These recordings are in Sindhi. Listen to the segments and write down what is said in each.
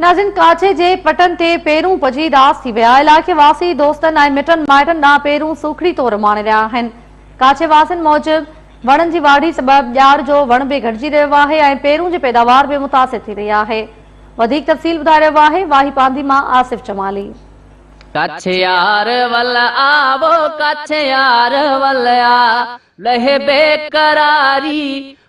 ناظرين ڪاڇي جي پٽن تي پيرون پڄي اداس ٿي ويا، علائقي واسي دوستن ۽ مٽن مائٽن ڏانهن پيرون سوکڙي طور اماڻي رهيا آهن. ڪاڇي واسين موجب وڻن جي واڍي سبب ڄار جو وڻ به گهٽجي رهيو آهي ۽ پيرون جي پيداوار به متاثر ٿي رهي آهي. وڌيڪ تفصيل ٻڌائي رهيو آهي واهي پانڌي مان آصف جمالي. ڪڇ يار ول آ وو ڪڇ يار ول آ لهي بيقراري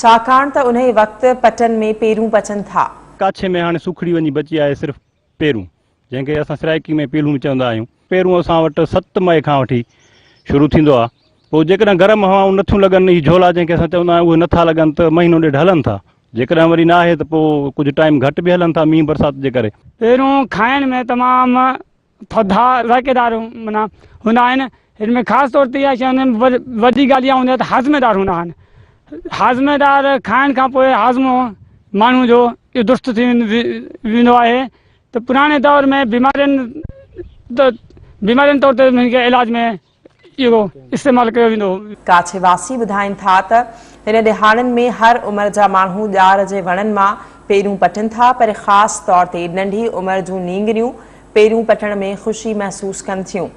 ڇاڪاڻ ته انهيء وقت پٽن ۾ پيرون پچن ٿا. ڪاڇي ۾ هاڻي سوکڙي وڃي بچي آهي صرف پيرون، جنهن کي اسان سرائيڪي ۾ پيلون به چوندا آهيون. پيرون اسان وٽ ست مئي کان وٺي شروع ٿيندو آهي. پوء جيڪڏهن گرم هوائون نٿيون لڳن، هي جهولا جنهن کي اسان چوندا آهيون، اهي نٿا لڳن ته مهينو ڏيڍ هلن ٿا. جيڪڏهن وري ناهي ته پوء ڪجهه ٽائيم گهٽ به هلن ٿا، مينهن برسات جي ڪري. پيرون کائڻ ۾ تمام ٿڌا ذائقيدار معنيٰ هوندا آهن. هن ۾ خاص طور تي اها شيء هوندي آهي ۽ وڏي ڳالهه اها هوندي آهي ته هاضمي دار هوندا آهن. هاضمي دار کائڻ کان پوء هاضمو ماڻهو جو اهو درست ٿي ويندو آهي ته پراڻي دور ۾ بيمارين بيمارين طور تي هن کي علاج ۾ اهو استعمال ڪيو ويندو هو. ڪاڇي واسي ٻڌائين ٿا ته هن ڏهاڙن ۾ هر عمر جا ماڻهو ڄار جي وڻن مان پيرون پٽن ٿا پر خاص طور تي ننڍي عمر جون نينگريون پيرون پٽڻ ۾ خوشي محسوس ڪن ٿيون.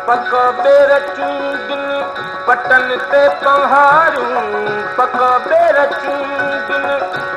پڪ پير چونڊين پٽن تي پنهارون پڪ پير چونڊين.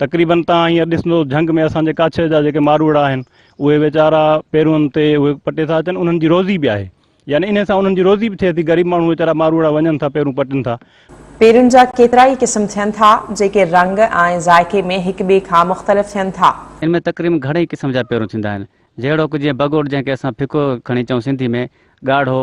تقريبن تان هينئر ڏسندو جهنگ ۾ اسان جي ڪاڇ جا جيڪي ماروئڙا آهن اهي ويچارا پيرون تي اهي پٽي ٿا اچن انهن جي روزي به آهي يعني انهي سان انهن جي روزي به ٿئي ٿي غريب ماڻهو ويچارا ماروئڙا وڃن ٿا پيرون پٽن ٿا. پيرن جا ڪيترا ئي قسم ٿين ٿا جيڪي رنگ ۽ ذائقي ۾ هڪ ٻئي کان مختلف ٿين ٿا. ان ۾ تقريبن گهڻئي قسم جا پيرون ٿيندا آهن جهڙوڪ جيئن بگوڙ جنهن کي اسان ڦڪو کڻي چئون سنڌي ۾ ڳاڙهو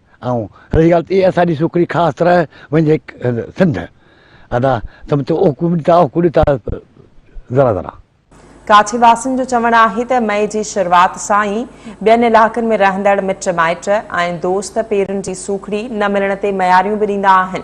۽ رهي ڳالهه ته اهي اسان جي سوکڙي خاص طرح وڃي سنڌ ادا سم ٿو اوکو ڏي ٿا اوکو ڏي ٿا ذرا ذرا. ڪاڇي واسين جو چوڻ آهي ته مئي جي شروعات سان ئي ٻين علائقن ۾ رهندڙ مٽ مائٽ ۽ دوست پيرن جي سوکڙي نه ملڻ تي مياريون به ڏيندا آهن.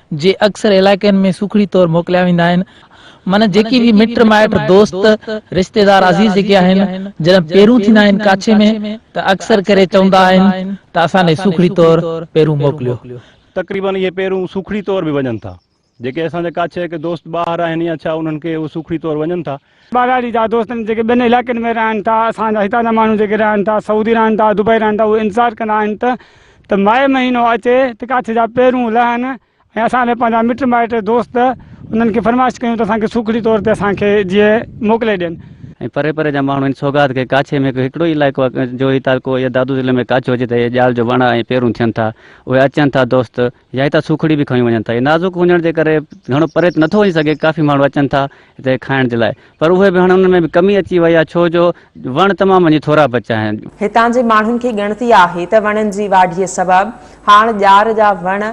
جي اڪثر علائقن ۾ سوکڙي طور موڪليا ويندا آهن. معنيٰ جيڪي به مٽ مائٽ، دوست، رشتيدار عزيز جيڪي آهن، جڏهن پيرون ٿيندا آهن ڪاڇي ۾ ته اڪثر ڪري چوندا آهن ته اسان ڏي سوکڙي طور پيرون موڪليو. تقريباً اهي پيرون سوکڙي طور به وڃن ٿا. جيڪي اسان جا ڪاڇي ڪي دوست ٻاهر آهن يا ڇا انهن کي اهو سوکڙي طور وڃن ٿا. ٻهراڙي جا دوست جيڪي ٻين علائقن ۾ رهن ٿا اسان جا هتان جا ماڻهو جيڪي رهن ٿا سعودي رهن ٿا دبئي رهن ٿا اهي انتظار ڪندا آهن ته ته مئي مهينو اچي ته ڪاڇ جا پيرون لهن ۽ اسان به پنهنجا مٽ مائٽ دوست انهن کي فرمائش ڪيون ته اسان کي سوکڙي طور تي اسان کي جيئي موڪلي ڏين. ۽ پري پري جا ماڻهو ان سوغات کي ڪاڇي ۾ هڪڙو ئي علائقو آهي جو هي تعلقو يا دادو ضلعي ۾ ڪاڇو هجي ته هي ڄال جو وڻ ۽ پيرون ٿين ٿا اهي اچن ٿا دوست يا هتان سوکڙي به کنيون وڃن ٿا هي نازڪ هجڻ جي ڪري گهڻو پري ته نٿو وڃي سگهي ڪافي ماڻهو اچن ٿا هتي کائڻ جي لاء پر اهي به هاڻي انهن ۾ به ڪمي اچي وئي آهي ڇو جو وڻ تمام وڃي ٿورا بچيا آهن. هتان جي ماڻهن کي ڳڻتي آهي ته وڻن جي واڍيء سبب هاڻ ڄار جا وڻ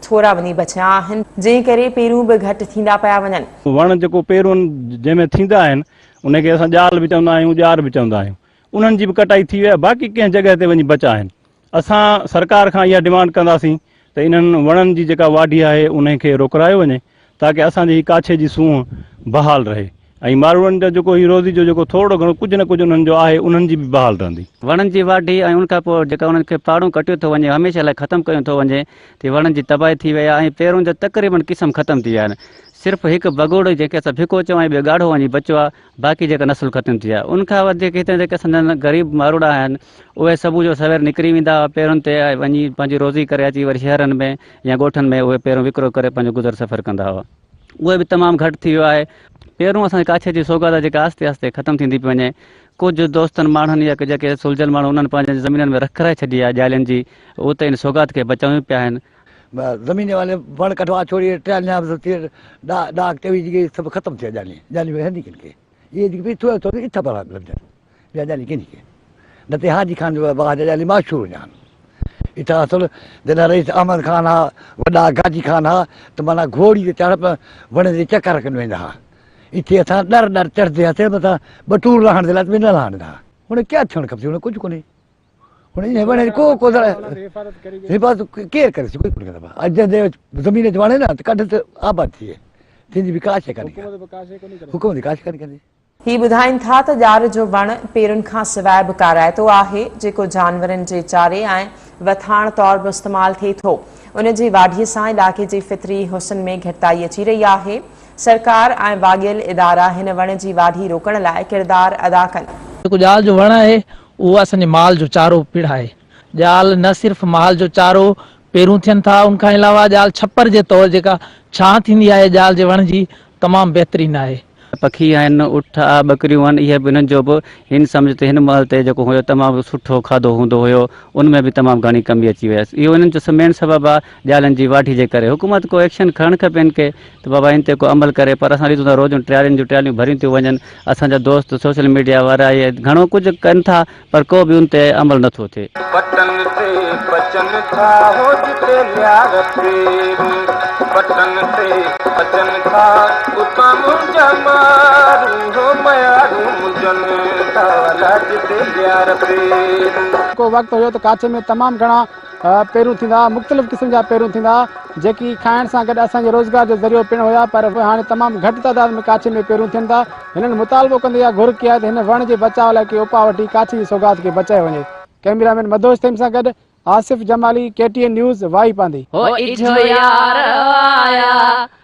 ٿورا وڃي بچيا آهن جنهن ڪري پيرون به گهٽ ٿيندا پيا وڃن. وڻ جيڪو پيرون جنهن ۾ ٿيندا آهن انهي کي اسان ڄال به چوندا آهيون ڄار به چوندا آهيون انهن جي به ڪٽائي ٿي وئي آهي باقي ڪنهن جڳهه تي وڃي بچا آهن اسان سرڪار کان اها ڊمانڊ ڪنداسين ته انهن وڻن جي جيڪا واڍي آهي انهي کي روڪرايو وڃي تاڪه اسان جي هي ڪاڇي جي سونهن بحال رهي ۽ ماروئڙن جو جيڪو هي روزي جو جيڪو ٿورڙو گهڻو ڪجهه نه ڪجهه انهن جو آهي انهن جي به بحال رهندي. وڻن جي واڍي ۽ ان کان پوء جيڪا انهن کي پاڙون ڪٽيو ٿو وڃي هميشه لاء ختم ڪيون ٿو وڃي تي وڻن جي تباهي ٿي وئي آهي ۽ پيرون جا تقريبن قسم ختم ٿي ويا آهن صرف هڪ بگهوڙو جنهن کي اسان ڀڪو چون ۽ ٻيو ڳاڙهو وڃي بچو آهي باقي جيڪا نسل ختم ٿي آهي ان کان وڌيڪ هتي جيڪي اسان جا غريب ماروئڙا آهن اهي صبح جو سوير نڪري ويندا هئا پيرن تي وڃي پنهنجي روزي ڪري اچي وري شهرن ۾ يا ڳوٺن ۾ اهي پيرون وڪرو ڪري پنهنجو گذر سفر ڪندا هئا اهي به تمام گهٽ ٿي ويو آهي پيرون اسان جي ڪاڇي جي سوگات آهي جيڪا آهستي آهستي ختم ٿيندي پئي وڃي ڪجهه دوستن ماڻهن يا جيڪي سلجهيل ماڻهو انهن پنهنجي زمينن ۾ رک ڪرائي ڇڏي آهي جالين جي اتي ان سوگات کي بچايون پيا آهن زمين والي وڻ ڪٽوا ڇوڙي ٽياليان به ٿي ڏا ڏاڪ چوي جي گئي سڀ ختم ٿيا جاني جاني وي هندي ڪن کي اي جي پي ٿو ٿو اي ٿا بلا لن جان يا جاني ڪن کي نه تي حاجي خان جو باج جاني ما شروع جان اي ٿا اصل جنا رئيس احمد خان ها وڏا گاجي خان ها ته مانا گھوڙي جي چاڙ پر وڻ جي چکر کن ويندا ها اي ٿي اٿا ڏر ڏر چڙ دي هٿ مٿا بٽور لهڻ دي لات ويندا لهڻ ها هن کي ٿيڻ کپي هن کي ڪجھ ڪونهي هن جي هيبت ڪو ڪو ذرا حفاظت ڪري حفاظت ڪير ڪري سي ڪوئي ڪونه ڪري اڄ جي زمين تي وڻي نه ته ڪڍ ته آباد ٿئي تنهن جي به ڪا شي ڪاني حڪومت به ڪا شي ڪاني ڪندي هي ٻڌائين ٿا ته ڄار جو وڻ پيرن کان سواء به ڪارائتو آهي، جيڪو جانورن جي چاري ۽ وٿاڻ طور به استعمال ٿئي ٿو. ان جي واڍي سان علائقي جي فطري حسن ۾ گهٽتائي اچي رهي آهي. سرڪار ۽ واڳيل ادارا هن وڻ جي واڍي روڪڻ لاء ڪردار ادا ڪن. جيڪو ڄار جو وڻ آهي، اهو اسان جي مال جو چارو پڻ آهي. ڄال نه صرف مال جو چارو، پيرون ٿين ٿا، ان کان علاوه ڄال ڇپر جي طور جيڪا ڇانھ ٿيندي آهي ڄال جي وڻ جي، تمام بهترين آهي. پکي آهن، اٺ آ، ٻڪريون آهن، اهي به انهن جو به هن سمجهه تي هن مهل تي جيڪو هيو تمام سٺو کاڌو هوندو هيو، ان ۾ به تمام گهڻي ڪمي اچي ويس. اهو انهن جو مين سبب آ ڄالن جي واڍي جي ڪري. حڪومت ڪو ايڪشن کڻڻ کپي هن کي. ته بابا ان تي ڪو عمل ڪري پر اسان ڏسون ٿا روزون ٽريالين جون ٽرياليون ڀريون ٿيون وڃن اسان جا دوست سوشل ميڊيا وارا اهي گهڻو ڪجهه ڪن ٿا پر ڪو به ان تي عمل نه ٿو ٿئي. پٽن تي پچن ٿا هو جتي ليار پيرون پٽن تي پچن ٿا اتان منهنجا مارون هو ميارون منهنجن ٿا ولا جتي ليار پيرون. ڪو وقت هيو ته ڪاڇي ۾ تمام گهڻا. پيرون ٿيندا ھئا مختلف قسم جا پيرون ٿيندا ھئا جيڪي کائڻ سان گڏ اسان جي روزگار جو ذريعو پڻ ھيا پر ھاڻي تمام گھٽ تعداد ۾ ڪاڇي ۾ پيرون ٿين ٿا ھنن مطالبو ڪندي اھا گھر ڪئي آھي ته ھن وڻ جي بچاء لاء ڪي اپاء وٺي ڪاڇي جي سوغات کي بچايو وڃي ڪئميرا مين مدھوش ٿھيم سان گڏ Asif Jamali K T N news وائي پانڌي. هو اجهو يار آيا.